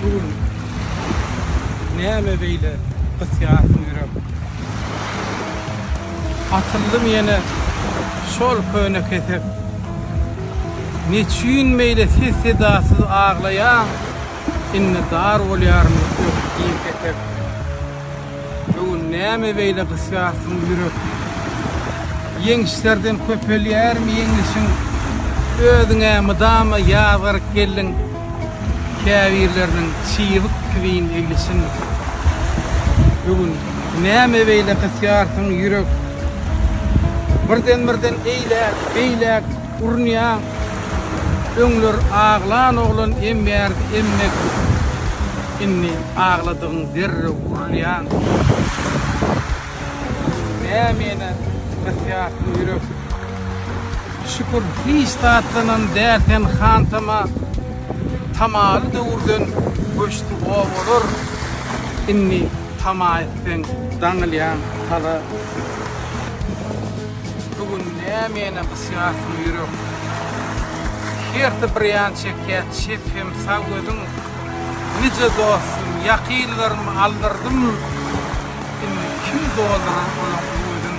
Bu gün näme beýle gysýarsyň ýürek? Atyldym ýene şol köne kesek. Neçüýn beýle ses-sedasyz aglaýaň? Indi zar bolýaryn öküz diýip etek. Öň näme beýle gysýarsyň ýürek. Ýeňişlerden köpelýärmi ýeňlişiň. Özüň-ä mydama ýazgaryp geldiň. Käbirleriniň çybyk kiwin eglişin. Öň näme beýle gysýarsyň ýürek. Birden-birden eýläk, beýläk. Urunýaň öňler aglan oglan embärdi emmek indi agladygyň derrew urulýaň nämäne ýatýar bu ýürek şükür hiç zatdanam däl sen hantama tamaly döwürden göçdi obalar indi tama etseň daňylýaň hala. Bu gün nämäni gysýarsyň ýürek. Hersi bir ýan çekýär çep hem sag gözüň. Nije dostum, ýakynlarym aldyrdym. Indi kim doldurar olaň öwezin.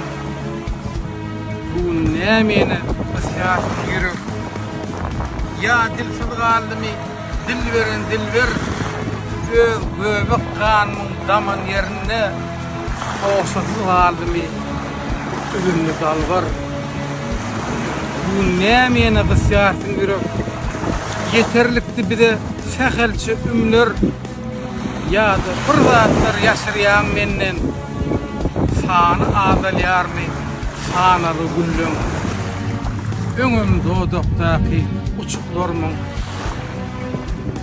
Bu gün nämäni gysýarsyň ýürek. Ýa dilsiz galdymy dil beren dilber. Öz göbek ganymyň daman ýerinde. Ogşasyz galdymy. Üzümli dalbar. Gün nämäni gysýarsyň ýürek. Ýeterlikdi bize sähelçe ümler. Ýa-da bir zatlar ýaşyrýaň menden. Sany azalýarmy sanaly günleň. Öňem dodakdaky uçuklarmyň.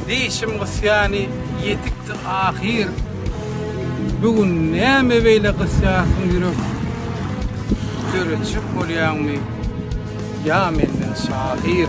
Diýşim gysýany ýetikdi ahyr. Bu gün näme beýle gysýarsyň ýürek? Döretjek bolýaňmy ýa menden şahyr?